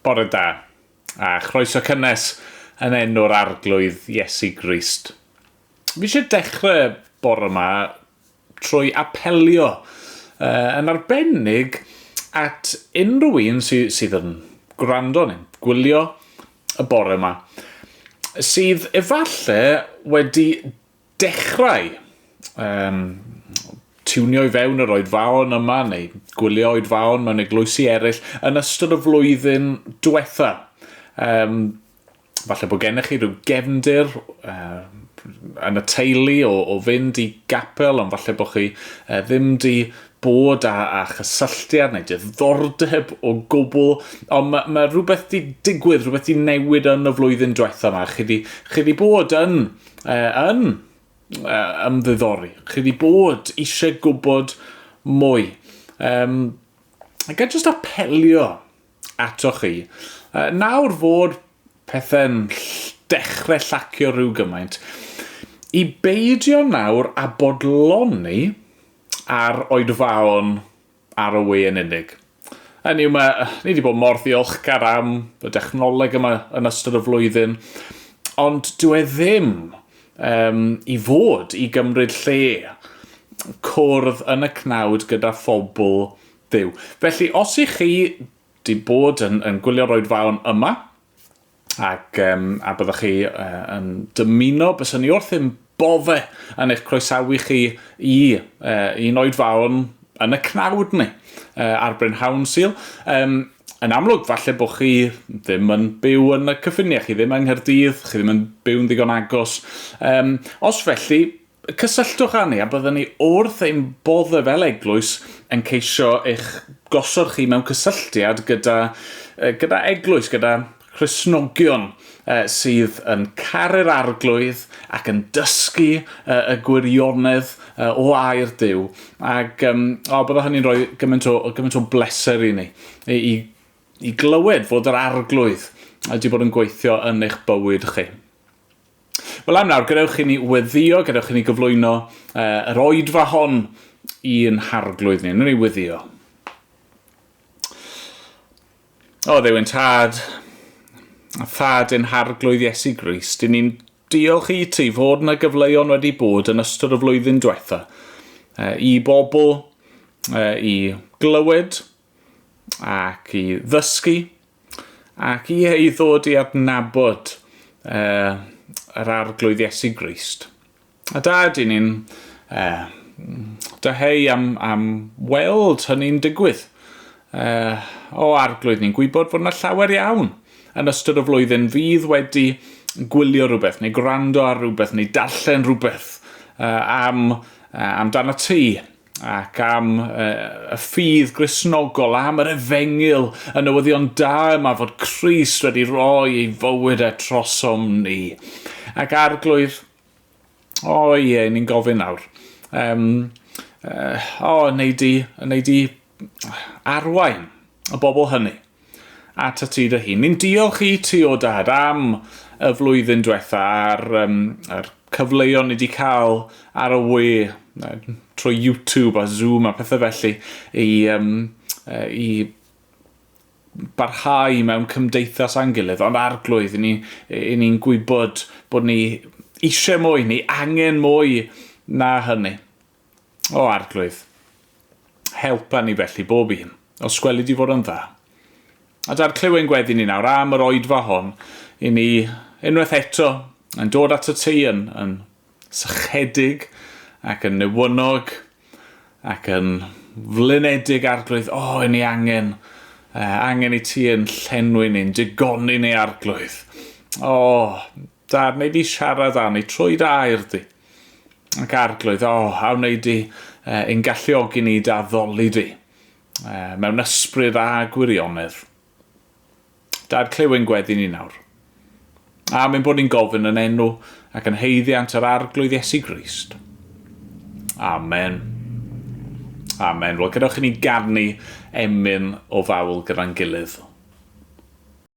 Bore da, a chroeso cynnes yn enw'r Arglwydd Iesu Grist. Fi eisiau dechrau bore yma trwy apelio uh, yn arbennig at unrhyw un sy, sydd yn gwrando neu gwylio y bore yma sydd efallai wedi Dechrau! Yym, tiwnio i fewn yr oedfaon yma neu gwylio oedfaon mewn eglwysi eraill yn ystod y flwyddyn diwetha'. Yym, falle bod gennych chi rhyw gefndir yn y teulu o o fynd i gapel ond falle bod chi ddim 'di bod â â chysylltiad neu diddordeb o gwbl ond ma' ma' rhywbeth 'di digwydd, rhywbeth 'di newid yn y flwyddyn diwetha' 'ma. Chi 'di chi 'di bod yn uh, yn uh, ymddiddori. Chi wedi bod eisiau gwybod mwy. Um, ac a jyst apelio ato chi. Uh, nawr fod pethau'n dechrau llacio rhyw gymaint, i beidio nawr a bodloni ar oedfaon ar y we yn unig. Hynny yw, mae, ni wedi bod mor ddiolchgar am y dechnoleg yma yn ystod y flwyddyn, ond dyw e ddim um, i fod i gymryd lle cwrdd yn y cnawd gyda phobl Dduw. Felly, os i chi wedi bod yn, yn gwylio'r oedfaon yma, ac um, a byddwch chi uh, yn dymuno, bys ni wrth yn bodde yn eich croesawu chi i uh, un oed fawn yn y cnawd ni uh, ar Bryn Hawn Sil. Um, yn amlwg, falle bod chi ddim yn byw yn y cyffiniau, chi ddim yng Nghyrdydd, chi ddim yn byw'n ddigon agos. Um, os felly, Cysylltwch â ni a byddwn ni wrth ein boddau fel eglwys yn ceisio eich gosod chi mewn cysylltiad gyda, gyda eglwys, gyda Christnogion sydd yn caru'r Arglwydd ac yn dysgu y gwirionedd o air Duw. Ac um, o, bydde hynny'n rhoi gymaint o, gymaint o bleser i ni, i, i, i glywed fod yr Arglwydd wedi bod yn gweithio yn eich bywyd chi. Wel am nawr, gadewch i ni weddio, gadewch i ni gyflwyno uh, yr oedfa hon i'n harglwydd ni. Nw'n ni weddio. O, ddewyn tad, a thad yn harglwydd Iesu Grist, i ni'n diolch i ti fod yna gyfleuon wedi bod yn ystod y flwyddyn diwetha uh, i bobl uh, i glywed ac i ddysgu, ac i ei ddod i adnabod uh, yr arglwydd Iesu Grist. A da ydyn ni'n uh, dyheu am, am weld hynny'n digwydd. Uh, o arglwydd, ni'n gwybod fod yna llawer iawn yn ystod y flwyddyn fydd wedi gwylio rhywbeth, neu gwrando ar rhywbeth, neu darllen rhywbeth uh, am, uh, amdano ti, ac am y ffydd grisnogol, am yr efengyl, y newyddion da yma fod Christ wedi rhoi ei fywyd e trosom ni. Ac arglwyr, o ie, ni'n gofyn nawr, um, uh, o, wneud i, wneud i arwain y bobl hynny. Atat ti dy hun. Ni'n diolch i ti o dad am y flwyddyn diwetha a'r, um, a'r cyfleuon ni wedi cael ar y we trwy YouTube a Zoom a pethau felly i, um, i barhau mewn cymdeithas a'n gilydd, ond arglwydd, i ni, i ni'n gwybod bod ni eisiau mwy, ni angen mwy na hynny. O Arglwydd, help arni felly bob un, os gweli di fod o'n dda. A dad, clyw ein gweddi ni nawr am yr oedfa hon, i ni unwaith eto yn dod at y tŷ yn, yn sychedig ac yn newynog ac yn flynedig, Arglwydd. O, i ni angen, uh, angen i ti yn llenwi ni'n digoni ni, Arglwydd. O, Da wneud di siarad da wneud troi dy air di ac arglwydd o a wneud di uh, yn galluogi ni da ddoli di uh, mewn ysbryd a gwirionedd. Da'r clywyn gweddi ni nawr. A mynd bod ni'n gofyn yn enw ac yn heiddiant yr arglwydd Iesu Grist. Amen. Amen. Wel, gadewch i ni garnu emyn o fawl gyda'n gilydd.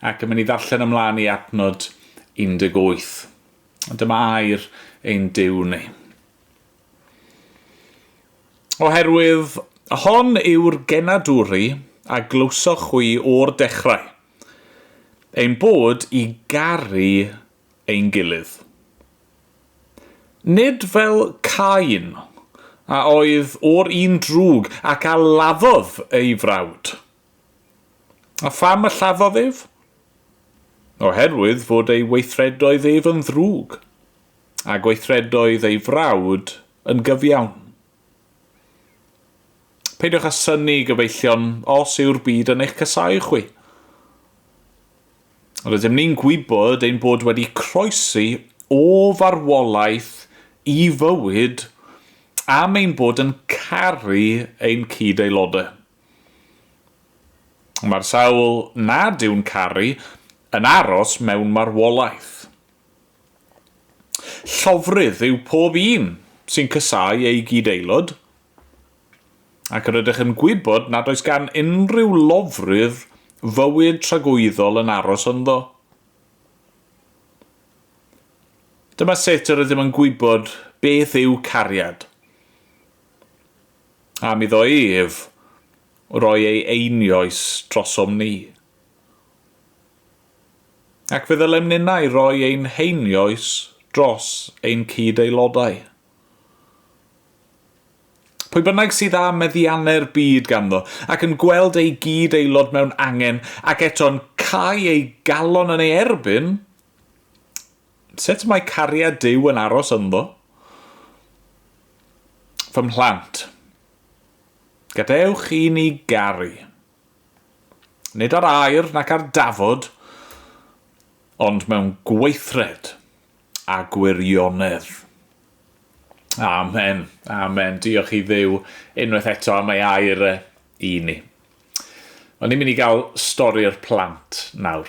Ac yn mynd i ddarllen ymlaen i adnod 18. Dyma air ein Duw ni. Oherwydd hon yw'r genadwri a glywsoch chwi o'r dechrau, ein bod i garu ein gilydd. Nid fel Cain, a oedd o'r un drwg ac a laddodd ei frawd. A pham y lladdodd ef? Oherwydd fod ei weithredoedd ef yn ddrwg, a gweithredoedd ei frawd yn gyfiawn. Peidiwch â synnu, gyfeillion, os yw'r byd yn eich casáu chwi. Rydym ni'n gwybod ein bod wedi croesi o farwolaeth i fywyd am ein bod yn caru ein cyd-aelodau. Mae'r sawl nad yw'n caru yn aros mewn marwolaeth. Llofrudd yw pob un sy'n casáu ei gyd-aelod, ac yr ydych yn gwybod nad oes gan unrhyw lofrudd fywyd tragwyddol yn aros ynddo. Dyma sut yr ydym yn gwybod beth yw cariad. Am iddo ef roi ei einioes drosom ni. Ac fe ddylem ninnau roi ein heinioes dros ein cyd-aelodau. Pwy bynnag sydd â meddiannu'r byd ganddo, ac yn gweld ei gyd-aelod mewn angen, ac eto'n cau ei galon yn ei erbyn, Sut mae cariad Duw yn aros ynddo? Fy mhlant, gadewch i ni garu, nid ar air nac ar dafod, ond mewn gweithred a gwirionedd. Amen. Amen. Diolch i Dduw unwaith eto am ei air e i ni. Ond ni'n mynd i gael stori'r plant nawr.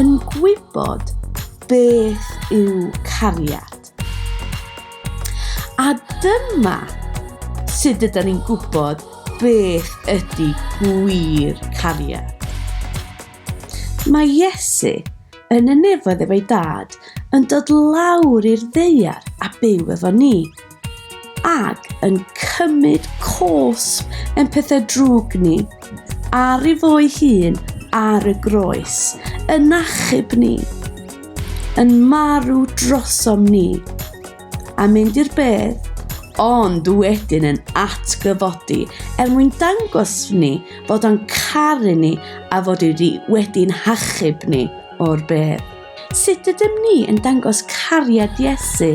yn gwybod beth yw cariad. A dyma sut ydyn ni'n gwybod beth ydy gwir cariad. Mae Iesu yn y nefoedd efo'i dad yn dod lawr i'r ddeiar a byw efo ni. ac yn cymryd cosb yn pethau drwg ni, ar ei fo'i hun ar y groes, yn achub ni, yn marw drosom ni, a mynd i'r bedd, ond wedyn yn atgyfodi er mwyn dangos ni fod o'n caru ni a fod wedi wedi'n hachub ni o'r bedd. Sut ydym ni yn dangos cariad Iesu?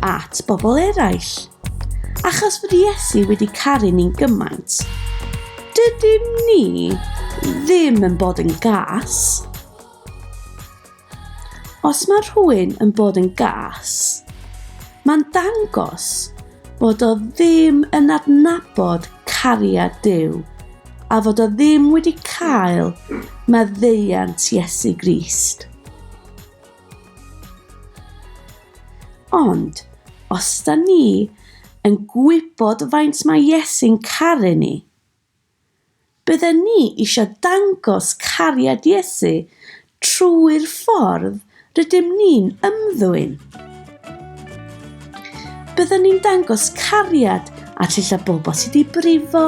at bobl eraill. Achos fod Iesu wedi caru ni'n gymaint, dydym ni ddim yn bod yn gas. Os mae rhywun yn bod yn gas, mae'n dangos bod o ddim yn adnabod cariad Dyw a fod o ddim wedi cael maddeuant Iesu Grist. Ond, os da ni yn gwybod faint mae Iesu'n caru ni, bydden ni eisiau dangos cariad Iesu trwy'r ffordd rydym ni'n ymddwyn. Bydden ni'n dangos cariad a llylla bobl sydd wedi brifo,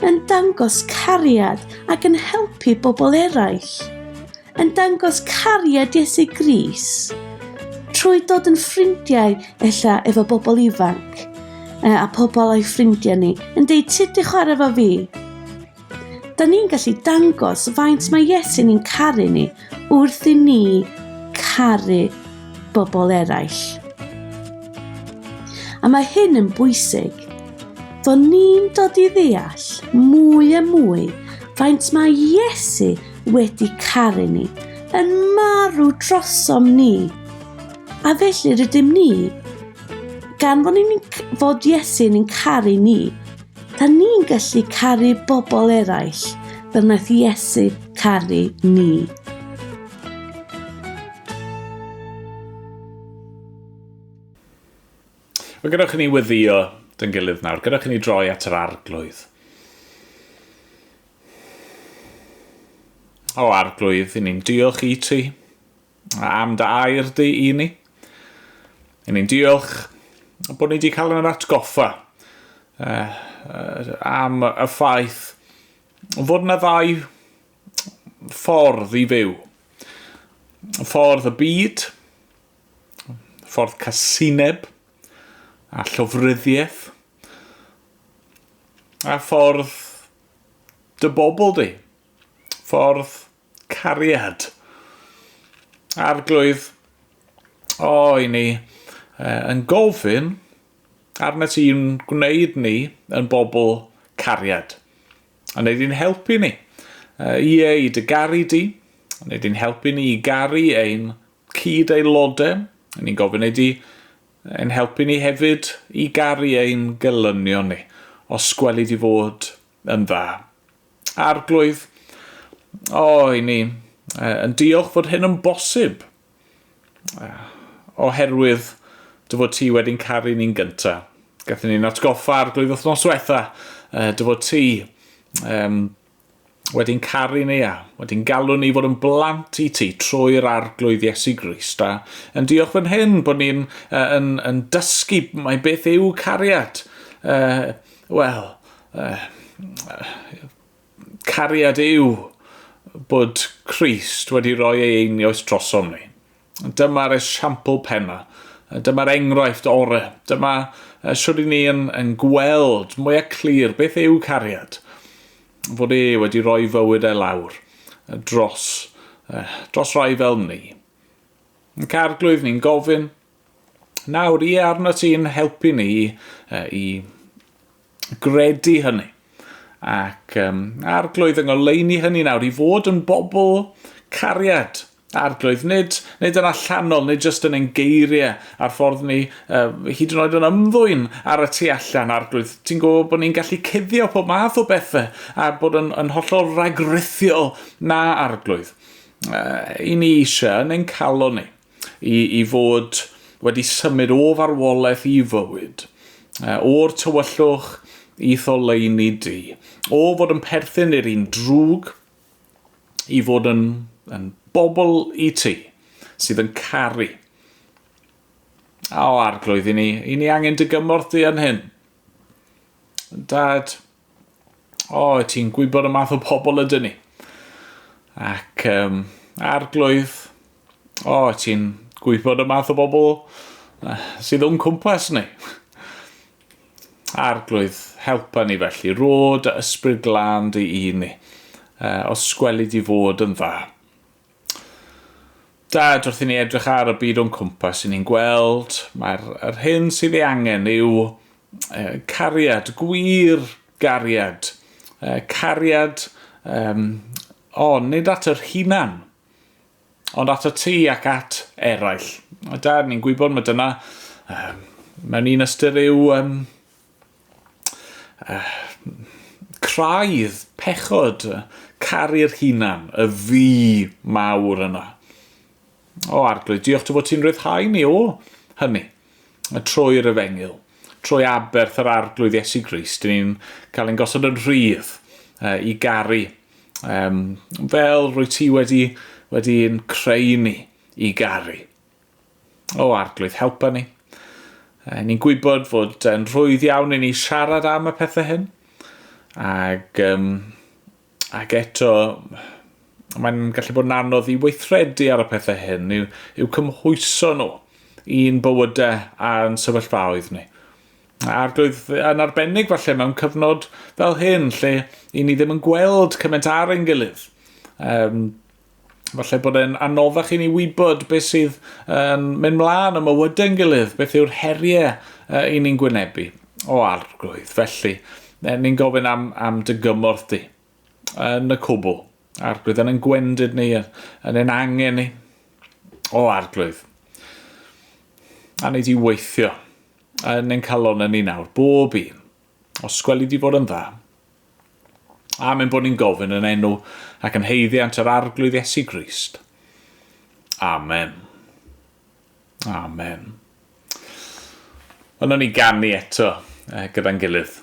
yn dangos cariad ac yn helpu bobl eraill. yn dangos cariad Iesu Gris trwy dod yn ffrindiau ella efo bobl ifanc a pobl o'i ffrindiau ni yn deud sut di chwarae fo fi. Da ni'n gallu dangos faint mae Iesu ni'n caru ni wrth i ni caru bobl eraill. A mae hyn yn bwysig, fod ni'n dod i ddeall mwy a mwy faint mae Iesu wedi caru ni, yn marw drosom ni. A felly rydym ni, gan fod, ni'n, fod Iesu yn caru ni, da ni'n gallu caru bobl eraill fel wnaeth Iesu caru ni. Mae gyda chi ni weddio dyn gilydd nawr, gyda chi ni droi at yr arglwydd. O Arglwydd, i ni'n diolch i ti am dy air di i ni. I ni'n diolch bod ni wedi cael yn yr atgoffa uh, am y ffaith fod yna ddau ffordd i fyw. Ffordd y byd, ffordd casineb a llofryddiaeth, a ffordd Dy bobl di. Ffordd cariad. Arglwydd, o i ni uh, yn gofyn arnat i'n gwneud ni yn bobl cariad. A wneud i'n helpu ni. Uh, ie, i dy garu di. A wneud i'n helpu ni i garu ein cyd aelodau. Ni'n gofyn ei di Yn helpu ni hefyd i garu ein gelynion ni, os gweli di fod yn dda. Arglwydd, o, i ni yn diolch fod hyn yn bosib, oherwydd dy fod ti wedi'n caru ni'n gynta. Gathen ni'n atgoffa, Arglwydd, wythnos diwetha, dy fod ti, um, wedi'n caru ni a wedi'n galw ni fod yn blant i ti trwy'r arglwydd Iesu Grist. A yn diolch fan hyn bod ni'n uh, yn, yn dysgu mae beth yw cariad. Uh, Wel, uh, cariad yw bod Christ wedi rhoi ei einioes drosom ni. Dyma'r esiampl penna. Dyma'r enghraifft ore. Dyma shwt i ni yn, yn gweld mwyaf clir beth yw cariad. Fod e wedi rhoi fywyd e lawr dros, dros rai fel ni. Yn carglwydd ni'n gofyn, nawr ie arno ti'n helpu ni i gredu hynny. Ac um, arglwydd yng ngoleini hynny nawr i fod yn bobl cariad. Arglwydd, nid, nid yn allanol, nid jyst yn ein geiriau a'r ffordd ni, uh, hyd yn oed yn ymddwyn ar y tu allan, Arglwydd. Ti'n gwybod bod ni'n gallu cuddio pob math o bethau a bod yn, yn hollol ragrithiol na, Arglwydd. Uh, I ni eisiau yn ein calon ni i, i fod wedi symud o farwolaeth i fywyd, uh, o'r tywyllwch i tholeini di, o fod yn perthyn i'r un drwg, i fod yn, yn bobl i ti sydd yn caru. O, arglwydd i ni, i ni angen dy gymorth di yn hyn. Dad, o, ti'n gwybod y math o pobl ydyn ni. Ac um, arglwydd, o, ti'n gwybod y math o bobl sydd o'n cwmpas ni. Arglwydd, helpa ni felly, rod a ysbryd glân dy i ni, uh, os gweli di fod yn dda. Dad, wrth i ni edrych ar y byd o'n cwmpas, i ni'n gweld, mae'r yr hyn sydd ei angen yw uh, cariad, gwir gariad, uh, cariad, um, o, nid at yr hunan, Ond atat ti ac at eraill. A da, ni'n gwybod mae dyna, um, mewn un ystyr yw um, uh, craidd, pechod, caru'r hunan, y fi mawr yna. O, Arglwydd, diolch ti bod ti'n rhyddhau ni o hynny. A trwy yr efengyl, trwy aberth yr Arglwydd Iesu Grist, dyn ni'n cael ein gosod yn rhydd uh, i garu. Um, fel rwy ti wedi, wedi yn creu ni i garu. O Arglwydd, helpa ni. Uh, ni'n gwybod fod yn rhwydd iawn i ni siarad am y pethau hyn. Ac um, Ac eto, mae'n gallu bod yn anodd i weithredu ar y pethau hyn, i'w, i'w cymhwyso nhw i'n bywydau a'n sefyllfaoedd ni. Arglwydd, yn arbennig falle mewn cyfnod fel hyn, lle i ni ddim yn gweld cymaint ar ein gilydd, um, Falle bod e'n anoddach i ni wybod beth sydd yn um, mynd mlaen y mywydau yn gilydd, beth yw'r heriau uh, i ni'n gwynebu o arglwydd. Felly, ni'n gofyn am, am dy gymorth di yn y cwbl. Arglwydd yn ein gwendid ni, yn ein angen ni. O arglwydd. A ni di weithio yn ein calonau ni nawr, bob un. Os sgweli di fod yn dda. Amen bod ni'n gofyn yn enw ac yn heiddiant yr arglwydd Iesu Grist. Amen. Amen. Yna ni ganu eto eh, gyda'n gilydd.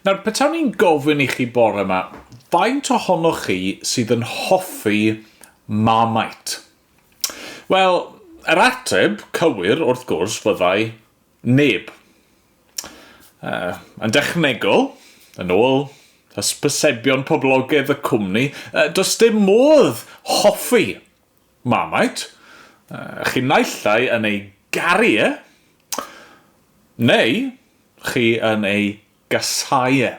Nawr, petawn i'n gofyn i chi bore yma, faint ohonoch chi sydd yn hoffi Marmite? Wel, yr ateb cywir, wrth gwrs, fyddai neb. Uh, yn dechnegol, yn ôl hysbysebion poblogaidd y cwmni, uh, does dim modd hoffi Marmite? Chi naill ai yn ei garu e, neu chi yn ei gasau e.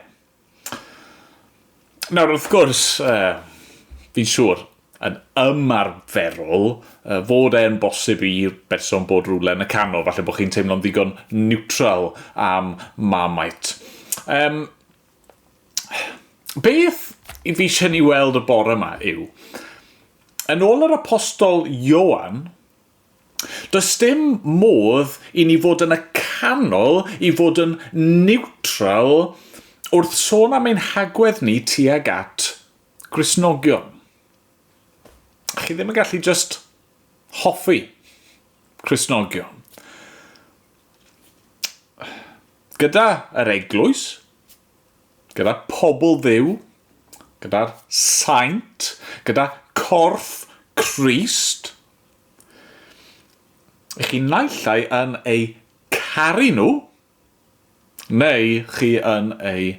Nawr, wrth gwrs, fi'n siŵr, yn ymarferol, fod e'n bosib i'r berson bod rywle yn y canol, falle bod chi'n teimlo'n ddigon niwtral am Marmite. Yym, Beth i fi eisiau ni weld y bore yma yw, yn ôl yr apostol Ioan, does dim modd i ni fod yn y canol i fod yn niwtral wrth sôn am ein hagwedd ni tuag at Gristnogion. Chi ddim yn gallu just hoffi Cristnogion. gyda yr eglwys, gyda pobl ddiw, gyda'r saint, gyda corff Christ, i chi naillai yn eu caru nhw, neu chi yn eu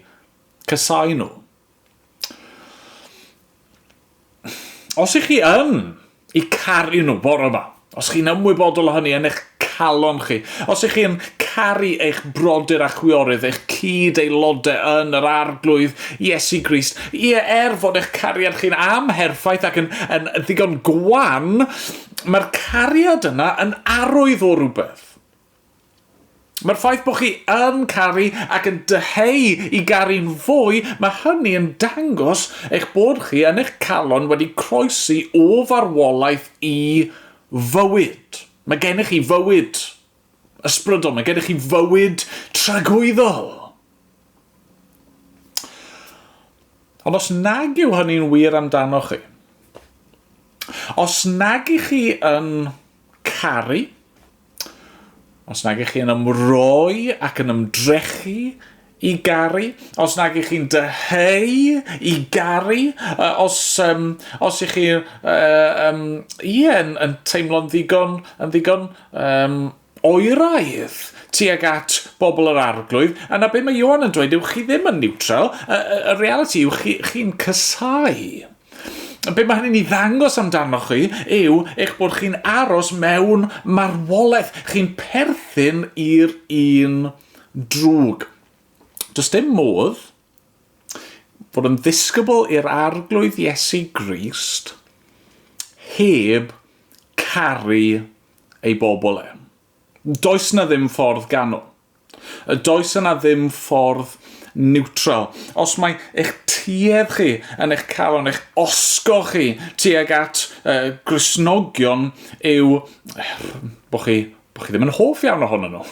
casau nhw. Os ych chi yn i caru nhw bore yma, os chi'n ymwybodol o hynny yn eich calon chi, os ych chi'n caru eich brodyr a chwiorydd, eich cyd aelodau yn yr arglwydd Iesu Grist, ie, er fod eich cariad chi'n amherffaith ac yn, yn ddigon gwan, mae'r cariad yna yn arwydd o rhywbeth. Mae'r ffaith bod chi yn caru ac yn dyheu i garu'n fwy, mae hynny yn dangos eich bod chi yn eich calon wedi croesi o farwolaeth i fywyd. Mae gennych chi fywyd ysbrydol, mae gennych chi fywyd tragwyddol. Ond os nag yw hynny'n wir amdano chi, os nag i chi yn caru, Os nag ych chi yn ymroi ac yn ymdrechu i garu, os nag ych chi'n dyheu i garu, uh, os, um, os ych chi uh, um, yeah, yn, yn teimlo'n ddigon, yn ddigon um, oeraidd tuag at bobl yr arglwydd, yna be mae Johan yn dweud yw chi ddim yn neutral, y, y, y reality yw chi'n chi, chi cysau. Be mae hynny'n ei ddangos amdanoch chi yw eich bod chi'n aros mewn marwolaeth, chi'n perthyn i'r un drwg. Does dim modd bod yn ddisgybl i'r arglwydd Iesu Grist heb caru ei bobl e. Does 'na ddim ffordd ganol. A does yna ddim ffordd niwtral. Os mae eich tuedd chi yn eich calon, eich osgo chi tuag at uh, Gristnogion yw bod chi bod chi ddim yn hoff iawn ohonyn nhw,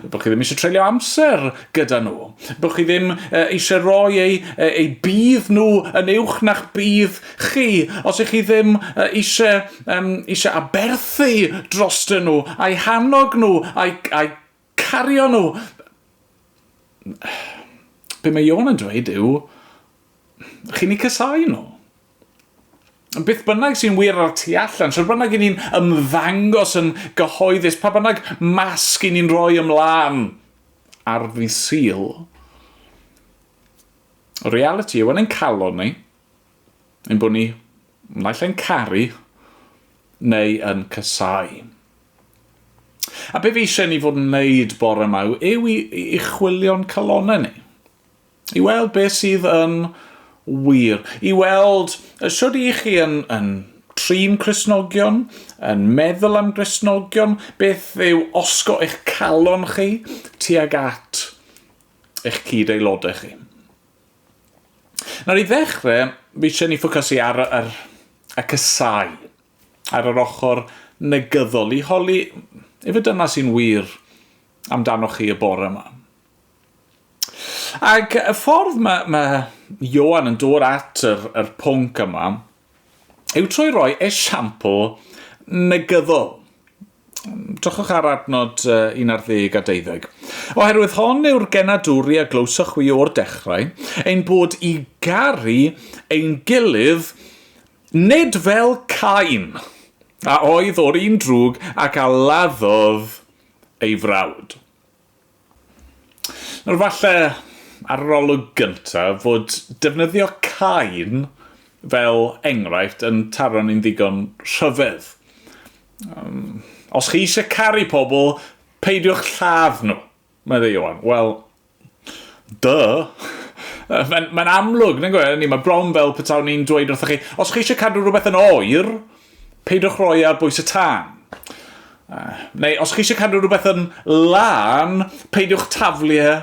bod chi ddim eisiau treulio amser gyda nhw, bod chi ddim uh, eisiau rhoi eu, eu bydd nhw yn uwch na'ch bydd chi, os ych chi ddim eisiau, um, eisiau aberthu drostyn nhw, a'i hannog nhw, a'i, a'i cario nhw. Be mae Ion yn dweud yw, chi'n ei casau nhw. Beth bynnag sy'n wir ar tu allan, sy'n bynnag i ni'n ymddangos yn gyhoeddus, pa bynnag masg i ni'n rhoi ymlaen ar ddi syl, reality yw yn ein calon ni, ein bod ni naill ai'n caru neu yn casáu. A be fi eisiau ni fod yn wneud bore yma yw i, i chwilio'n calonau ni. I weld beth sydd yn wir. I weld sydd i chi yn, yn trin Cresnogion, yn meddwl am Gresnogion, beth yw osgo eich calon chi tuag at eich cyd aelodau chi. Nawr i ddechrau, fi eisiau ni ffocysu ar yr, y cysau, ar yr ochr negyddol, i holi efe dyna sy'n wir amdanoch chi y bore yma. Ac y ffordd mae, mae Ioan yn dod at yr, yr pwnc yma, yw trwy roi esiampl negyddol. Drychwch ar adnod 11 a 12. Oherwydd hon yw'r genadwri a glywsoch chwi o'r dechrau, ein bod i garu ein gilydd nid fel Cain, a oedd o'r un drwg ac a laddodd ei frawd. Nawr falle ar yr olwg gynta fod defnyddio cain fel enghraifft yn taro ni'n ddigon rhyfedd. Um, os chi eisiau caru pobl, peidiwch lladd nhw, meddai Ioan. Wel, dy. Mae'n mae amlwg, nag oe, ni, mae bron fel petawn ni'n dweud wrthych chi, os chi eisiau cadw rhywbeth yn oer, Peidiwch roi ar bwys y tân. Neu os chi eisiau cadw rhywbeth yn lân, peidiwch taflu e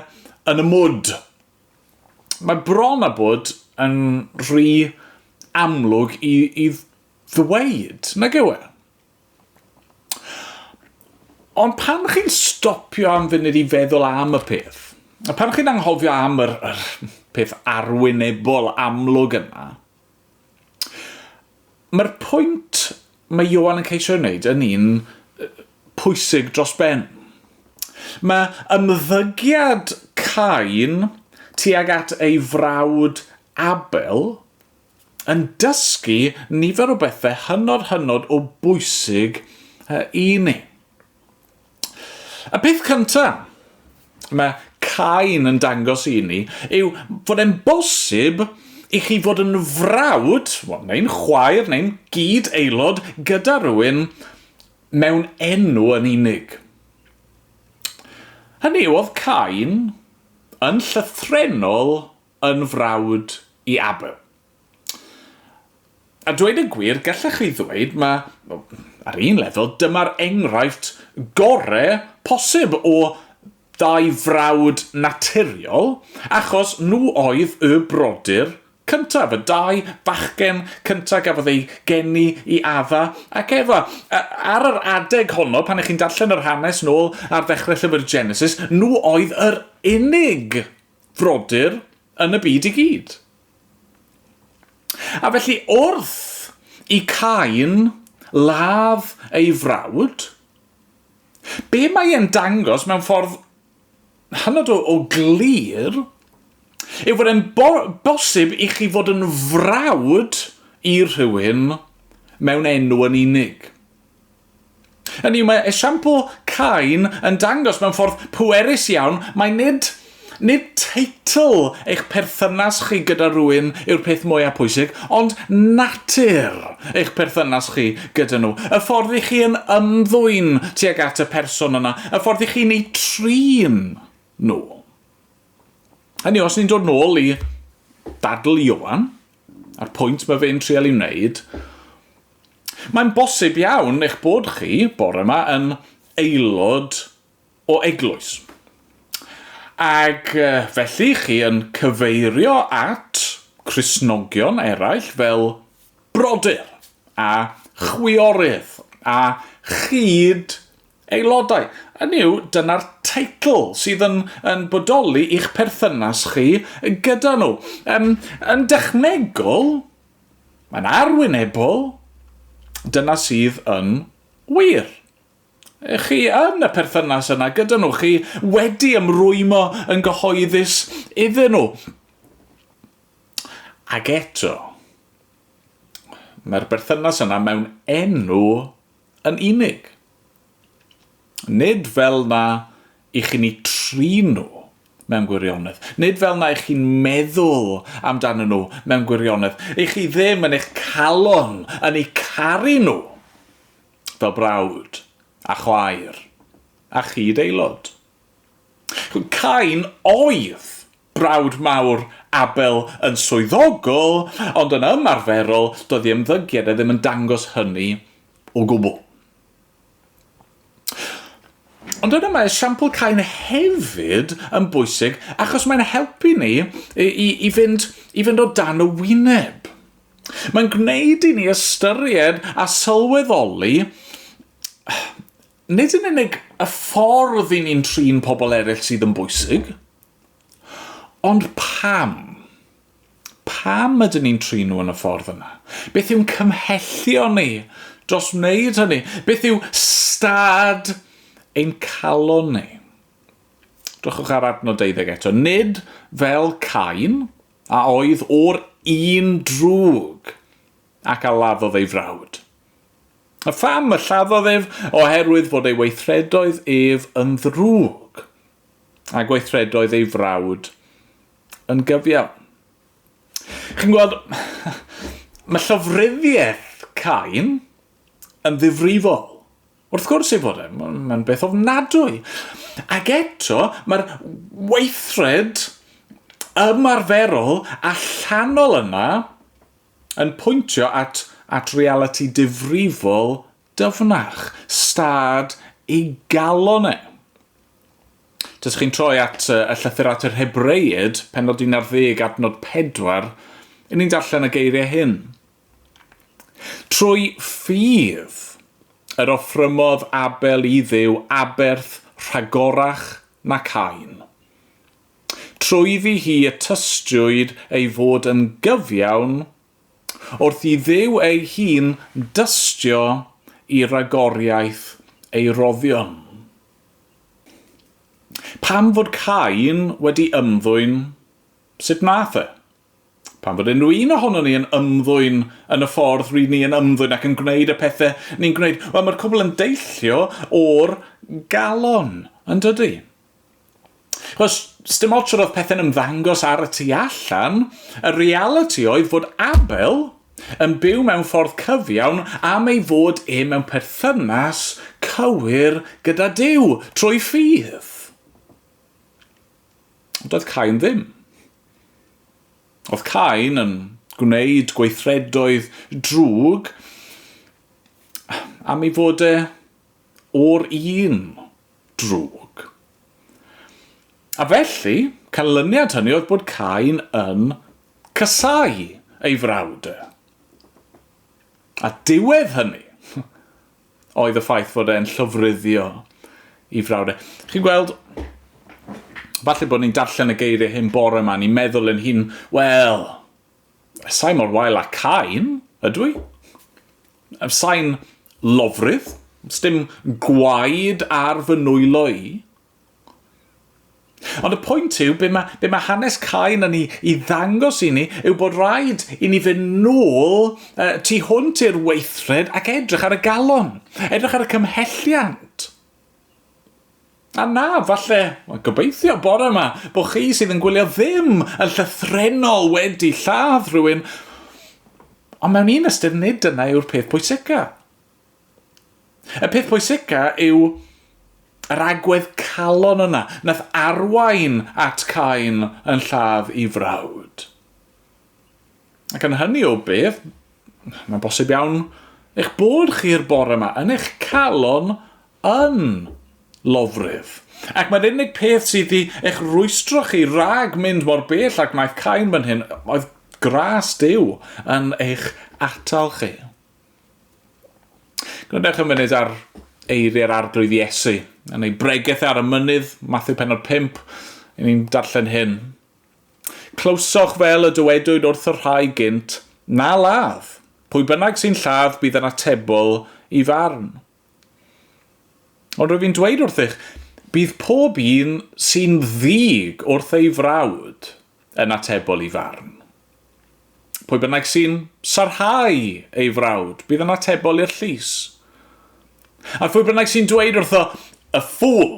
yn y mwd. Mae bron a bod yn rhy amlwg i, i ddweud, nag yw e? Ond pan chi'n stopio am funud i feddwl am y peth, a pan chi'n anghofio am yr, yr peth arwynebol amlwg yna, Mae'r pwynt mae Ioan yn ceisio ei wneud yn un pwysig dros ben. Mae ymddygiad Cain tuag at ei frawd Abel yn dysgu nifer o bethau hynod hynod o bwysig i ni. Y peth cynta mae Cain yn dangos i ni yw fod e'n bosib i chi fod yn frawd, neu'n chwaer, neu'n gyd aelod gyda rhywun mewn enw yn unig. Hynny yw, oedd Cain yn llythrenol yn frawd i Abel. A dweud y gwir, gallech chi ddweud mae, ar un lefel, dyma'r enghraifft gore posib o ddau frawd naturiol, achos nhw oedd y brodyr cyntaf, y dau fachgen cyntaf gafodd eu geni i Adda ac Efa. Ar yr adeg honno, pan ych chi'n darllen yr hanes nôl ar ddechrau llyfr Genesis, nhw oedd yr unig frodyr yn y byd i gyd. A felly wrth i Cain ladd ei frawd, be mae e'n dangos mewn ffordd hynod o, o glir yw fod e'n bo bosib i chi fod yn frawd i rhywun mewn enw yn unig. Hynny yw, mae esiampl Cain yn dangos mewn ffordd pwerus iawn mai nid, nid teitl eich perthynas chi gyda rhywun yw'r peth mwyaf pwysig, ond natur eich perthynas chi gyda nhw. Y ffordd i chi yn ymddwyn tuag at y person yna, y ffordd i chi'n eu trin nhw. Hynny yw, os ni'n dod nôl i ddadl Ioan, A'r pwynt mae fe'n trial i wneud, mae'n bosib iawn eich bod chi, bore yma, yn aelod o eglwys. Ac felly chi yn cyfeirio at Christnogion eraill fel brodyr a chwiorydd a chyd Aelodau, hynny yw, dyna'r teitl sydd yn, yn bodoli i'ch perthynas chi gyda nhw. Um, yn dechnegol, mae'n arwynebol, dyna sydd yn wir. Chi yn y perthynas yna gyda nhw, chi wedi ymrwymo yn gyhoeddus iddyn nhw. Ac eto, mae'r berthynas yna mewn enw yn unig. Nid fel na i chi'n eu trin nhw mewn gwirionedd. Nid fel na i chi'n meddwl amdanyn nhw mewn gwirionedd. I chi ddim yn eich calon yn eu caru nhw fel brawd a chwaer a chyd-aelod. Cain oedd brawd mawr Abel yn swyddogol, ond yn ymarferol, doedd ei ymddygiad e ddim yn dangos hynny o gwbl. Ond yna mae esiampl Cain hefyd yn bwysig achos mae'n helpu ni i, i, fynd, i fynd o dan y wyneb. Mae'n gwneud i ni ystyried a sylweddoli Nid yn unig y ffordd i ni'n trin pobl eraill sydd yn bwysig, ond pam? Pam ydyn ni'n trin nhw yn y ffordd yna? Beth yw'n cymhellio ni dros wneud hynny? Beth yw stad ein calon ni? Drychwch ar adnod 12 eto. Nid fel Cain, a oedd o'r un drwg, ac a laddodd ei frawd. A pham y lladdodd ef? Oherwydd fod ei weithredoedd ef yn ddrwg, a gweithredoedd ei frawd yn gyfiawn. Chi'n gweld, mae llofruddiaeth Cain yn ddifrifol. Wrth gwrs ei fod e, mae'n beth ofnadwy. Ac eto, mae'r weithred ymarferol allanol yna yn pwyntio at at realiti difrifol dyfnach, stad ei galon e. Os chi'n troi at y llythyr at yr Hebreaid, penod 11 adnod 4, yn ni'n darllen y geiriau hyn. Trwy ffydd yr offrymodd Abel i ddew aberth rhagorach na Cain. Trwyddi hi y tystiwyd ei fod yn gyfiawn wrth i Dduw ei hun dystio i ragoriaeth ei roddion. Pam fod Cain wedi ymddwyn sut nath e? Pam fod unrhyw un ohonon ni yn ymddwyn yn y ffordd rŷn ni yn ymddwyn ac yn gwneud y pethe ni'n gwneud? Wel, mae'r cwbl yn deillio o'r galon, yndydy? Chos, sdim ots yr oedd pethau'n ymddangos ar y tu allan, y realiti oedd fod Abel yn byw mewn ffordd cyfiawn am ei fod e mewn perthynas cywir gyda Duw, trwy ffydd. Ond oedd Cain ddim. Oedd Cain yn gwneud gweithredoedd drwg am ei fod e o'r un drwg. A felly, canlyniad hynny oedd bod Cain yn casáu ei frawd. A diwedd hynny oedd y ffaith fod e'n llofruddio i frawd e. Chi'n gweld, falle bod ni'n darllen y geiriau hyn bore yma, ni'n meddwl yn hun, wel, Sain mor wael â Cain, ydw i? Sain lofrudd, sdim gwaed ar fy nwylo i. Ond y pwynt yw, be mae, be mae hanes Cain yn ei, ei ddangos i ni yw bod rhaid i ni fynd nôl uh, tu hwnt i'r weithred ac edrych ar y galon, edrych ar y cymhelliant. A na, falle, wel, gobeithio bore yma, bod chi sydd yn gwylio ddim yn llythrenol wedi lladd rhywun, ond mewn un ystyr nid dyna yw'r peth pwysica. Y peth pwysica yw yr agwedd calon yna, nath arwain at Cain yn lladd i frawd. Ac yn hynny o beth, mae'n bosib iawn eich bod chi'r bore yma yn eich calon yn lofrudd. Ac mae'r unig peth sydd wedi eich rwystro chi rag mynd mor bell ag maeth cain fan hyn oedd gras Dyw yn eich atal chi. Gwneudwch y munud ar eiriau'r arglwydd Iesu yn ei bregeth ar y mynydd, Matthew penod 5, yn ni'n darllen hyn. Clywsoch fel y dywedwyd wrth y rhai gynt, Na ladd! Pwy bynnag sy'n lladd bydd yn atebol i farn. Ond rwyf i'n dweud wrthych, bydd pob un sy'n ddig wrth ei frawd yn atebol i farn. Pwy bynnag sy'n sarhau ei frawd bydd yn atebol i'r llys. A phwy bynnag sy'n dweud wrtho, Y ffŵl!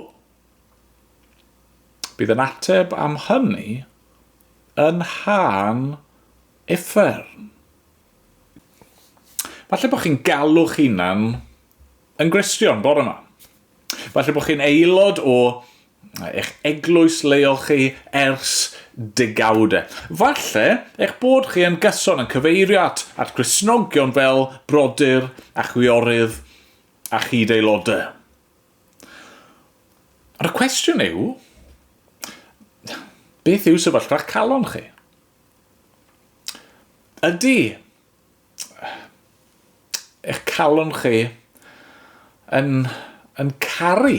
Bydd yn ateb am hynny yn Hân Uffern. Falle bod chi'n galw'ch hunan yn Gristion bore yma. Falle bod chi'n aelod o eich eglwys leol chi ers degawde. Falle eich bod chi yn gyson yn cyfeirio at, at Grisnogion fel brodyr a chwiorydd a chyd-aelodau. Ond y cwestiwn yw, beth yw sefyllfa'ch calon chi? Ydy eich calon chi yn, yn caru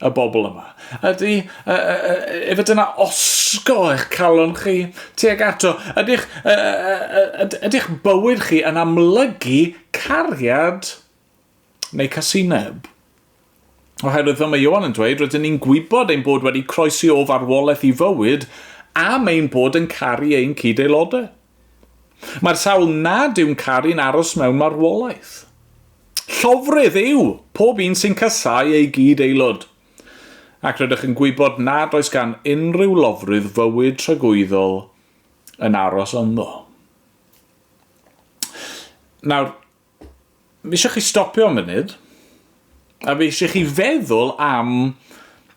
y bobl yma? Ydy, uh, uh, efe dyna osgo eich calon chi tuag ato? Ydych, uh, uh, ydych bywyd chi yn amlygu cariad neu casineb. Oherwydd, fel mae Ioan yn dweud, rydyn ni'n gwybod ein bod wedi croesi o farwolaeth i fywyd am ein bod yn caru ein cyd-aelodau. Mae'r sawl nad yw'n caru'n aros mewn marwolaeth. Llofrudd yw pob un sy'n casau ei gyd-aelod. Ac rydych yn gwybod nad oes gan unrhyw lofrudd fywyd tragwyddol yn aros ynddo. Nawr, Fi eisiau chi stopio am funud, a fi eisiau chi feddwl am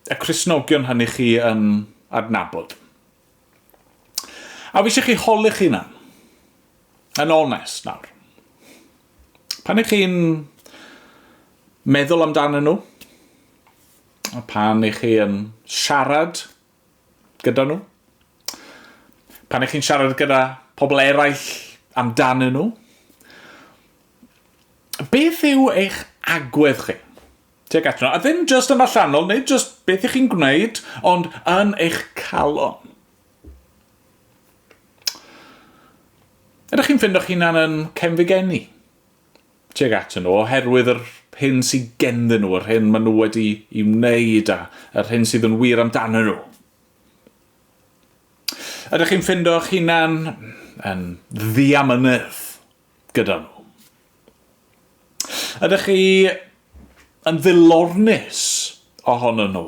y Cristnogion hynny chi yn adnabod. A fi eisiau chi holi'ch hunan, yn onest nawr. Pan ych chi'n meddwl amdanyn nhw, a pan ych chi yn siarad gyda nhw. Pan ych chi'n siarad gyda pobl eraill amdanyn nhw, beth yw eich agwedd chi? Tuag atyn nhw. A ddim just yn allanol, neu just beth ych chi'n gwneud, ond yn eich calon. Ydych chi'n ffindo'ch hunan yn cefnfugenni? tuag atyn nhw, oherwydd yr hyn sydd genddyn nhw, yr hyn maen nhw wedi i wneud a yr hyn sydd yn wir amdanyn nhw. Ydych chi'n ffindo eich hunan yn ddiamynedd gyda nhw? Ydych chi yn ddilornus ohonyn nhw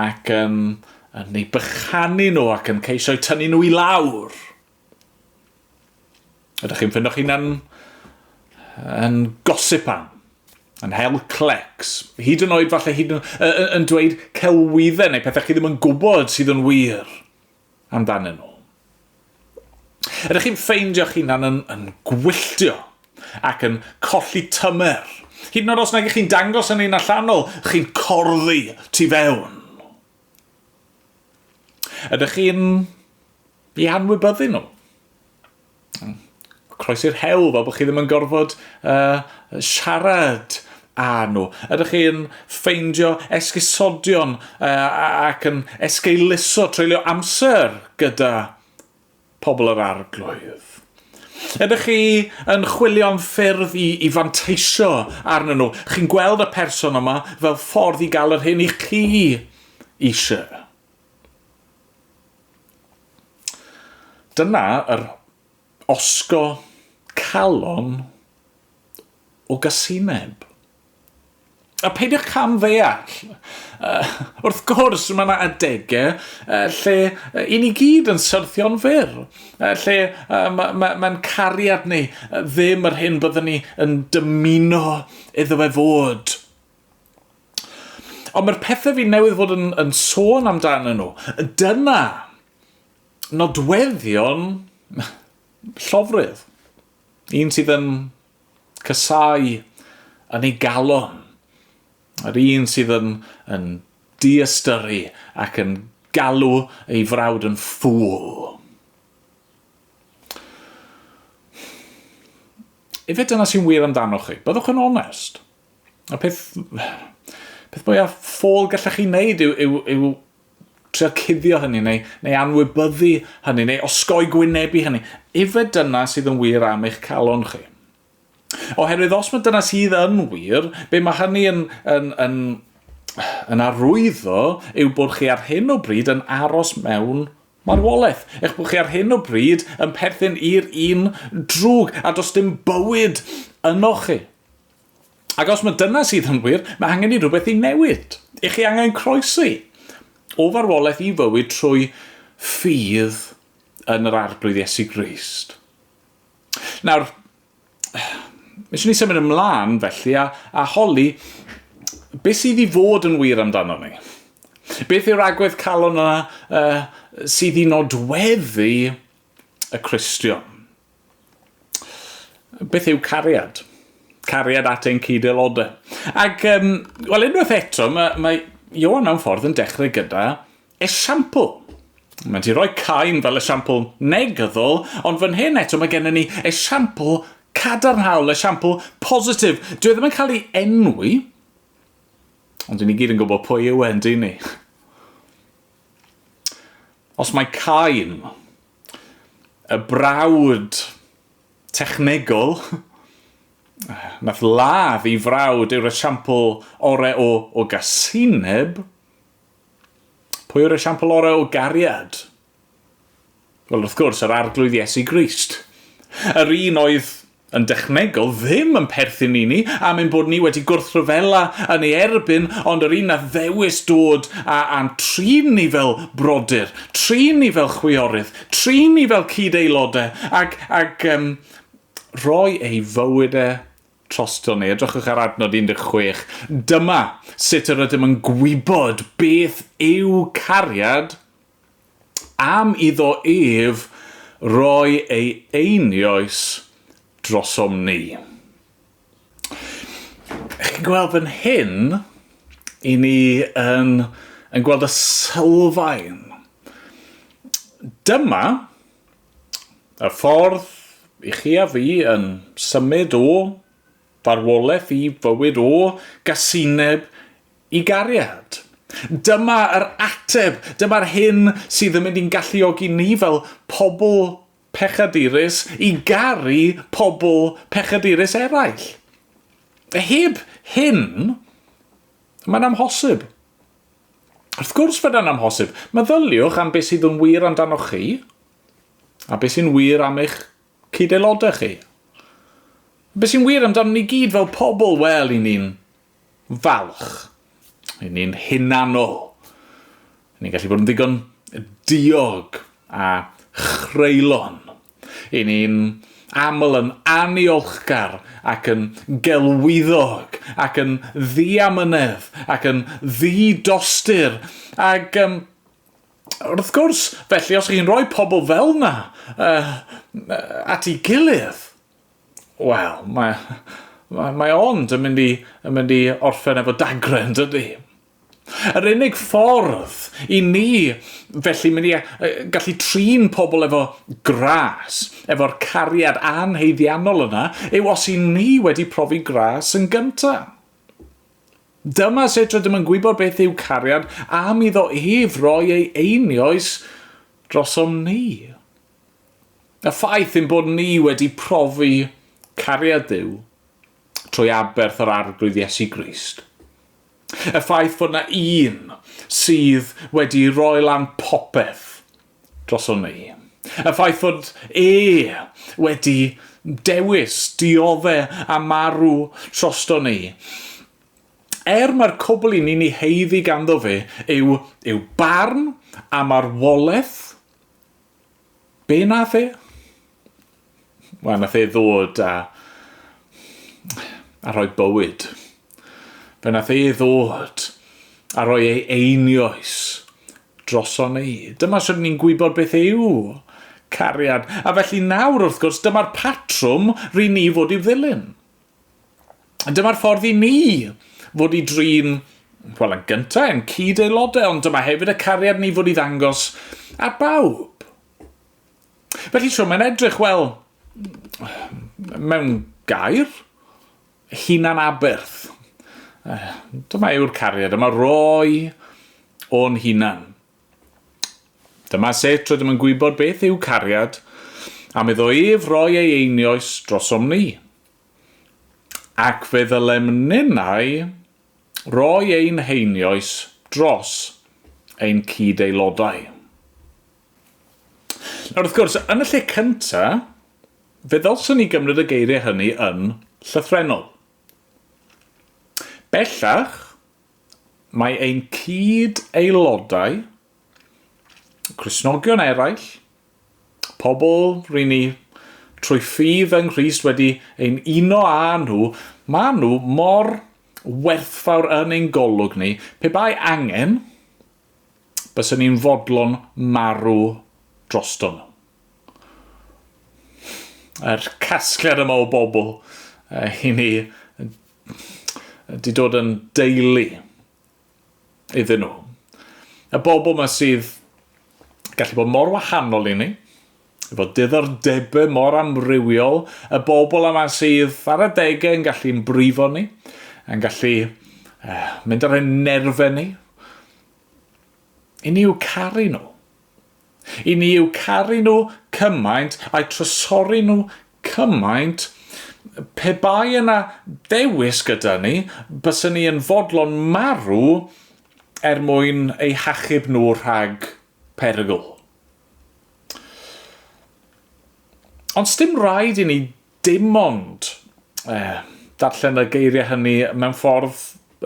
ac yn, yn ei bychanu nhw ac yn ceisio tynnu nhw i lawr? Ydych chi'n ffindo'ch hunan yn gosip am, yn hel clecs, hyd yn oed falle hyd yn, yn dweud celwyddau neu pethau chi ddim yn gwybod sydd yn wir amdanyn nhw. Ydych chi'n ffeindio'ch hunan yn, yn gwylltio ac yn colli tymer, hyd yn oed os nag chi'n dangos yn ein allanol, chi'n corddi tu fewn. Ydych chi'n i anwybyddu nhw? Croes i'r hewl fel bod chi ddim yn gorfod uh, siarad â nhw? Ydych chi'n ffeindio esgusodion uh, ac yn esgeuluso treulio amser gyda pobl yr Arglwydd. Ydych chi yn chwilio am ffyrdd i, i fanteisio arnyn nhw? Chi'n gweld y person yma fel ffordd i gael yr hyn i chi eisiau? Dyna yr osgo calon o gasineb. A peidiwch cam ddeall. Uh, wrth gwrs, mae yna adegau uh, lle uh, i ni gyd yn syrthio'n fyr, uh, lle uh, mae'n ma, ma cariad ni uh, ddim yr hyn byddwn ni yn dymuno iddo fe fod. Ond mae'r pethau fi newydd fod yn, yn sôn amdano nhw, dyna nodweddion llofrydd. Un sydd yn Casáu yn ei galon. Yr un sydd yn yn diystyru ac yn galw ei frawd yn ffŵl. Efe dyna sy'n wir amdanoch chi. Byddwch yn onest. Y peth, peth mwyaf ffôl gallech chi wneud yw, yw, yw trio cuddio hynny neu, neu anwybyddu hynny neu osgoi gwynebu hynny. Efe dyna sydd yn wir am eich calon chi. Oherwydd os mae dyna sydd yn wir, be mae hynny yn, yn, yn, yn arwyddo yw bod chi ar hyn o bryd yn aros mewn marwolaeth. Eich bod chi ar hyn o bryd yn perthyn i'r un drwg a does dim bywyd yno chi. Ac os mae dyna sydd yn wir, mae angen i rhywbeth ei newid. I chi angen croesi o farwolaeth i fywyd trwy ffydd yn yr Arglwydd Iesu Grist. Nawr, Mae eisiau ni symud ymlaen felly a, a holi beth sydd i fod yn wir amdano ni. Beth yw'r agwedd calon yna uh, sydd i nodweddu y Cristion? Beth yw cariad? Cariad at ein cyd-aelodau. Ac, um, wel, unwaith eto, mae, mae Iowan mewn ffordd yn dechrau gyda esiampl. Mae'n ti roi cain fel esiampl negyddol, ond fan hyn eto mae gennym ni esiampl cadarnhaol, esiampl positif. Dwi e ddim yn cael ei enwi, ond dyn ni gyd yn gwybod pwy yw e, yn dyn ni. Os mae cain Y brawd technegol nath ladd ei frawd yw'r esiampl orau o o gasineb. Pwy yw'r esiampl orau o gariad? Wel, wrth gwrs, yr Arglwydd Iesu Grist. Yr un oedd yn dechnegol ddim yn perthyn i ni am ein bod ni wedi gwrthryfela yn ei erbyn ond yr un a ddewis dod a a'n trin ni fel brodyr, trin ni fel chwiorydd, trin ni fel cyd-aelodau ac, ac um, rhoi ei fywyd e troston ni. Edrychwch ar adnod 16. Dyma sut yr ydym yn gwybod beth yw cariad am iddo ef roi ei einioes drosom ni. Chi'n gweld fan hyn, i ni yn, yn gweld y sylfaen. Dyma y ffordd i chi a fi yn symud o farwolaeth i fywyd o gasineb I gariad. Dyma yr ateb! Dyma'r hyn sydd yn mynd i'n galluogi ni fel pobl pechadurus i garu pobl pechadurus eraill. Heb hyn, mae'n amhosib. Wrth gwrs fod e'n amhosib. Meddyliwch am beth sydd yn wir amdanoch chi a beth sy'n wir am eich cyd-aelodau chi. Beth sy'n wir amdano ni gyd fel pobl? Wel, i ni'n falch. Ry'n ni'n hunanol. Ry'n ni'n gallu bod yn ddigon diog a chreulon. Ry'n ni'n aml yn aniolchgar ac yn gelwyddog ac yn ddiamynedd ac yn ddi-dostur ac yym wrth gwrs, felly, os chi'n rhoi pobl fel 'na yy at 'i gilydd, Wel, mae, mae, mae ond yn mynd i, yn mynd i orffen efo dagren, dydy? Yr unig ffordd i ni felly mynd i gallu trin pobl efo gras, efo'r cariad anheiddiannol yna, yw os i ni wedi profi gras yn gynta. Dyma sut rydym yn gwybod beth yw cariad am iddo ef roi ei einioes drosom ni. Y ffaith ein bod ni wedi profi cariad Duw trwy aberth yr Arglwydd Iesu Grist. Y ffaith fod na Un sydd wedi roi lan popeth droson ni. Y ffaith fod E wedi dewis diodde a marw troston ni. Er mae'r cwbl i ni'n ei heiddi ganddo fe yw, yw barn a marwolaeth Be nath e? Wel, nath e ddod a... a rhoi bywyd. Fe nath e ddod a rhoi ei einioes droson ni. Dyma sut ni'n gwybod beth yw cariad. A felly nawr, wrth gwrs, dyma'r patrwm rydyn ni fod i'w ddilyn. Dyma'r ffordd i ni fod i drin, wel yn gyntaf, yn cyd-aelodau, ond dyma hefyd y cariad ni fod i ddangos ar bawb. Felly so mae'n edrych, wel, mewn gair, hunan aberth. Dyma yw'r cariad, yma roi o'n hunan. Dyma sut rydym yn gwybod beth yw cariad, am iddo ef roi ei einioes drosom ni. Ac fe ddylem ninnau roi ein heinioes dros ein cyd-aelodau. Nawr, wrth gwrs, yn y lle cynta, fe ddylswn ni gymryd y geiriau hynny yn llythrenol. Bellach, Mae ein cyd-aelodau, Cristnogion eraill, pobl ry'n ni trwy ffydd yng Nghrist wedi ein uno â nhw, maen nhw mor werthfawr yn ein golwg ni, pe bai angen, bysen ni'n fodlon marw droston nhw. Yr casgliad yma o bobl, i ni, Di dod yn deulu iddyn nhw. Y bobl yma sydd gallu bod mor wahanol i ni, efo diddordebau mor amrywiol, y bobl yma sydd ar y degau yn gallu'n brifo ni, yn gallu uh, mynd ar ein nerfau ni. I ni yw caru nhw. I ni yw caru nhw cymaint a'u trysori nhw cymaint, pe bai yna ddewis gyda ni, bysen ni yn fodlon marw er mwyn eu hachub nhw rhag perygl. Ond sdim rhaid i ni dim ond eh, darllen y geiriau hynny mewn ffordd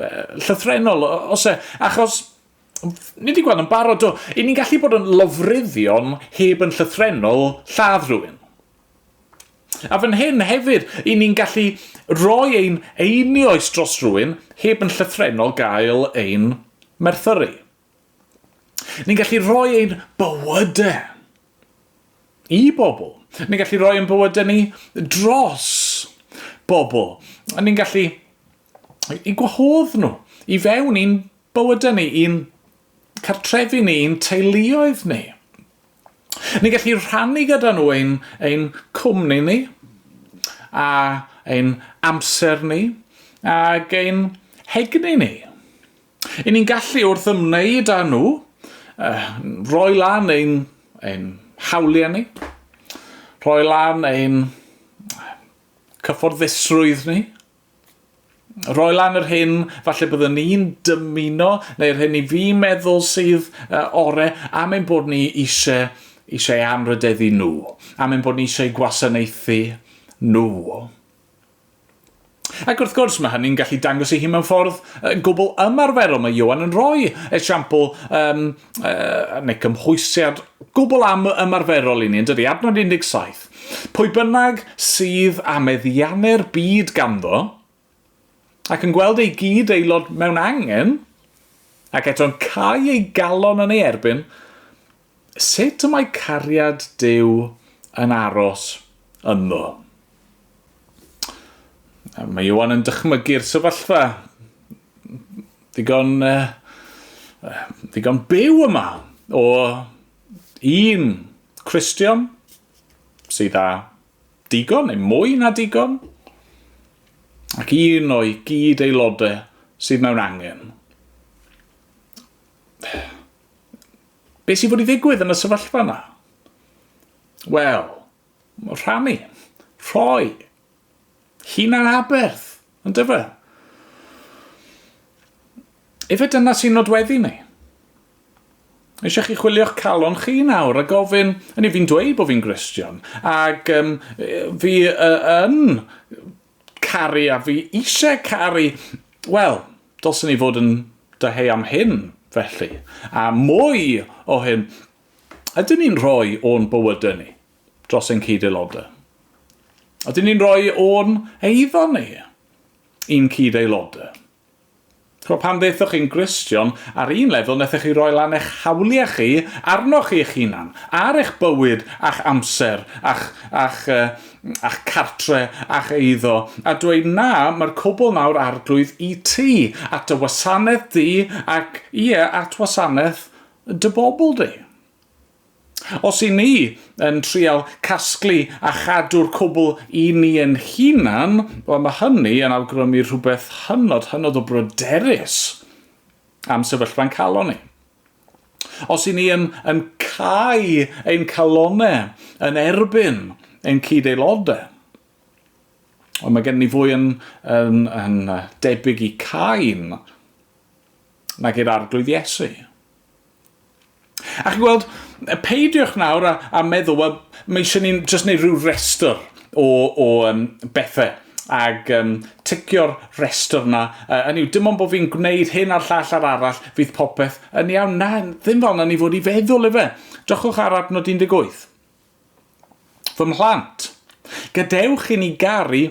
eh, llythrenol, os e, achos Ni wedi gweld yn barod do. I ni'n gallu bod yn lofruddion heb yn llythrenol lladd rhywun. A fan hyn hefyd, i ni'n gallu rhoi ein einioes dros rhywun heb yn llythrenol gael ein merthyru. Ni'n gallu rhoi ein bywydau i bobl. Ni'n gallu rhoi ein bywydau ni dros bobl. Ni'n gallu i gwahodd nhw i fewn i'n bywydau ni, i'n cartrefi ni, i'n teuluoedd ni. Ni'n gallu rhannu gyda nhw ein, ein cwmni ni, a ein amser ni, ac ein hegni ni. I ni'n gallu wrth ymwneud â nhw, uh, roi lan ein, ein hawliau ni, rhoi lan ein cyfforddusrwydd ni, roi lan yr hyn falle byddwn i'n dymuno neu'r hyn i fi meddwl sydd uh, ore am ein bod ni eisiau eisiau anrhydeddu nhw, am ein bod ni eisiau gwasanaethu nhw. Ac wrth gwrs, mae hynny'n gallu dangos ei hun mewn ffordd uh, gwbl ymarferol. Mae Iowan yn rhoi esiampl um, uh, neu cymhwysiad gwbl am ymarferol i ni, yn dydy, adnod 17. Pwy bynnag sydd a meddiannu'r byd ganddo, ac yn gweld ei gyd aelod mewn angen, ac eto'n cael ei galon yn ei erbyn, sut y mae cariad Dyw yn aros ynddo. Mae Iwan yn dychmygu'r sefyllfa ddigon, uh, ddigon byw yma o un Christian sydd â digon neu mwy na digon ac un o'i gyd aelodau sydd mewn angen. Be sy'n bod i ddigwydd yn y sefyllfa yna? Wel, Rhannu. Rhoi. Hunanaberth. Yndyfe? Efe dyna sy'n nodweddu ni. Eisiau chi chwilio'ch calon chi nawr a gofyn, yn i fi'n dweud bod fi'n Gristion, ac um, fi uh, yn caru a fi eisiau caru, wel, dylsyn ni fod yn dyheu am hyn, felly. A mwy o hyn, Ydyn ni'n rhoi o'n bywydau ni dros ein cyd-aelodau? Ydyn ni'n rhoi o'n eiddo ni i'n cyd-aelodau? Chwa pan ddeithoch chi'n Gristion, ar un lefel nethoch chi roi lan eich hawliau chi arnoch chi eich hunan, ar eich bywyd a'ch amser, a'ch, a'ch, uh, a'ch cartre, a'ch eiddo, a dweud na, mae'r cwbl nawr arglwydd i ti, at y wasanaeth di, ac ie, at wasanaeth dy bobl di. Os i ni yn trial casglu a chadw'r cwbl i ni yn hunan, wel mae hynny yn awgrymu rhywbeth hynod, hynod o bryderus am sefyllfa'n calon ni. Os i ni yn, yn cau ein calonau yn erbyn ein cyd-aelodau, Ond mae gen ni fwy yn, yn, yn debyg i Cain nag i'r Arglwydd Iesu. A chi'n gweld, peidiwch nawr a, a meddwl, wel, mae eisiau ni'n just neud rhyw restr o, o um, bethau ag um, ticio'r restr yna. Uh, hynny yw, dim ond bod fi'n gwneud hyn a'r llall a'r arall, fydd popeth yn iawn. Na, ddim fel yna ni fod i feddwl efe. Dychwch ar adnod 18. Fy mhlant, gadewch i ni garu,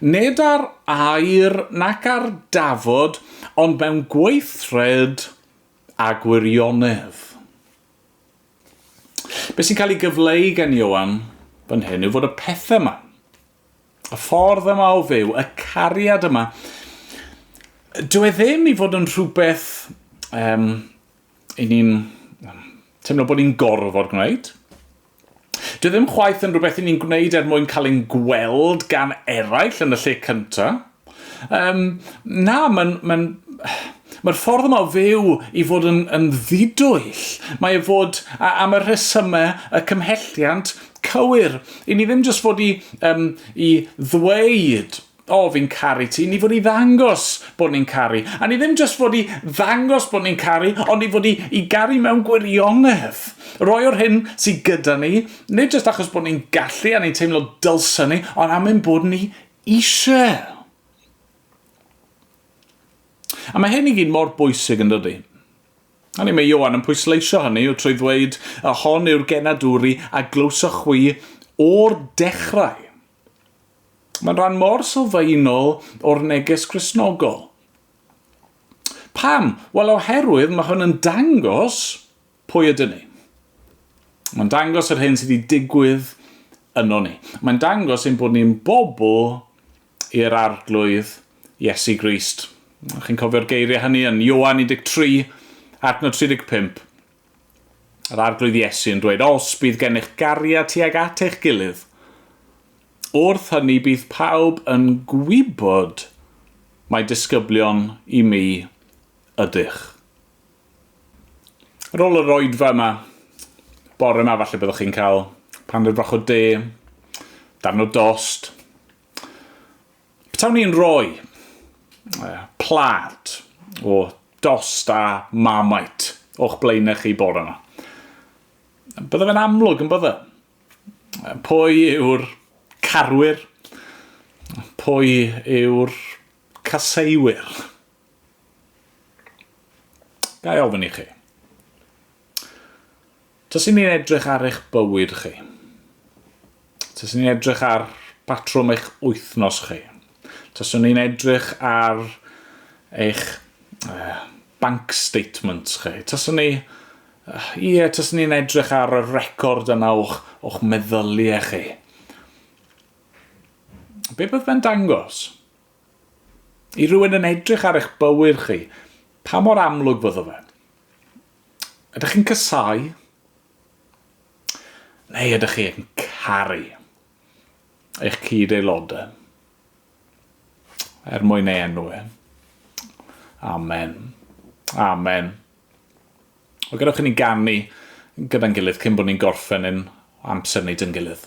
nid ar air nac ar dafod, ond mewn gweithred a gwirionedd. Be sy'n cael ei gyfleu gan Ioan fan hyn yw fod y pethau yma, y ffordd yma o fyw, y cariad yma, dwi e ddim i fod yn rhywbeth um, 'yn ni'n teimlo bod ni'n gorfod gwneud. Dyw e ddim chwaith yn rhywbeth 'yn ni'n gwneud er mwyn cael ein gweld gan eraill yn y lle cynta. Yym, na, mae'n... mae'n... mae'r ffordd yma o fyw i fod yn, yn ddidwyll. Mae e fod, a, am y rhesymau, y cymhelliant cywir, i ni ddim jyst fod i, yym, i ddweud, O, fi'n caru ti. Ni fod i ddangos bod ni'n caru. A ni ddim jyst fod i ddangos bod ni'n caru, ond ni fod i, i garu mewn gwirionedd. Roi o'r hyn sydd gyda ni, nid jyst achos bod ni'n gallu a ni'n teimlo dylsyn ni, ond am ein bod ni eisiau. A mae hyn i gyd mor bwysig yn dydy. Hynny mae Iowan yn pwysleisio hynny yw trwy ddweud y hon yw'r genadwri a glywsoch chwi o'r dechrau. Mae'n rhan mor sylfaenol o'r neges Gristnogol. Pam? Wel, oherwydd mae hwn yn dangos pwy ydyn ni. Mae'n dangos yr hyn sydd wedi digwydd yno ni. Mae'n dangos ein bod ni'n bobl i'r arglwydd Iesu Grist. Chi'n cofio'r geiriau hynny yn Ioan 13, adnod 35. Yr Arglwydd Iesu yn dweud, Os bydd gennych gariad tuag at eich gilydd, wrth hynny bydd pawb yn gwybod mai disgyblion i mi ydych. Ar ôl yr oedfa yma, bore yma falle byddwch chi'n cael paned fach o de, darn o dost, Petawn i'n rhoi plat o dost a Marmite o'ch blaenau chi bore yma, bydde fe'n amlwg yn bydde? Pwy yw'r carwyr? Pwy yw'r caseuwyr? Ga i ofyn i chi? Taswn ni'n edrych ar eich bywyd chi, taswn ni'n edrych ar batrwm eich wythnos chi, taswn ni'n edrych ar eich uh, bank statements chi, taswn ni, uh, ie, taswn ni'n edrych ar y record yna o'ch, o'ch meddyliau chi. Be bydd fe'n dangos? I rywun yn edrych ar eich bywyd chi, pa mor amlwg fyddo fe? Ydych chi'n casáu? Neu ydych chi'n caru eich cyd-aelodau? Er mwyn ei enw e. Amen. Amen. Wel, gadewch i ni ganu gyda'n gilydd cyn bod ni'n gorffen yn amser nid yn gilydd.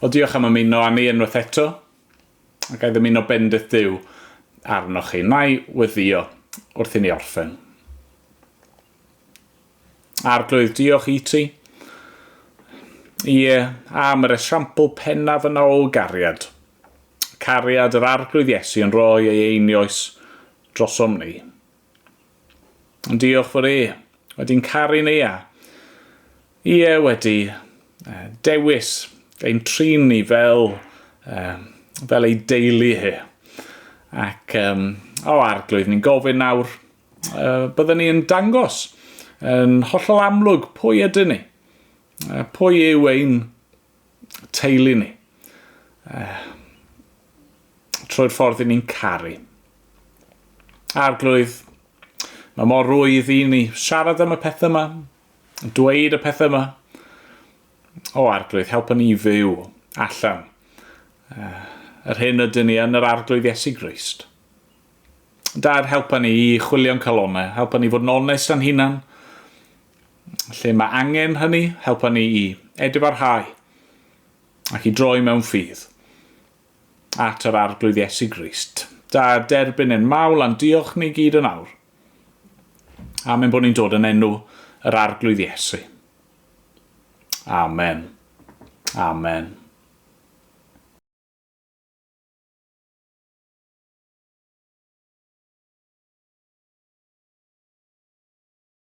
O diolch am ymuno â ni unwaith eto. A ga i ddymuno bendith Duw arnoch chi. Na i weddïo wrth i ni orffen. Arglwydd, diolch i ti. Ie, am yr esiampl pennaf yna o gariad. Cariad yr Arglwydd Iesu yn rhoi ei einioes drosom ni. Ond diolch for e. Wedyn caru Neia. Ie wedi uh, dewis ein trin ni fel, uh, fel ei deulu hi. Ac um, o arglwydd ni'n gofyn nawr, uh, byddwn ni yn dangos yn hollol amlwg pwy ydyn ni. Uh, pwy yw ein teulu ni. Uh, trwy'r ffordd i ni'n caru. Arglwydd, mae mor rwydd i ni siarad am y pethau yma, dweud y pethau yma. O Arglwydd, help ni i fyw allan uh, yr hyn ydyn ni yn yr Arglwydd Iesu Grist. Dad, helpa ni i chwilio'n calonau, helpa ni fod yn onest yn hunan, Lle mae angen hynny, helpa ni i edifrhau ac i droi mewn ffydd at yr Arglwydd Iesu Grist. Da, derbyn ein mawl a'n diolch ni gyd yn awr. Amen bod ni'n dod yn enw yr Arglwydd Iesu. Amen. Amen.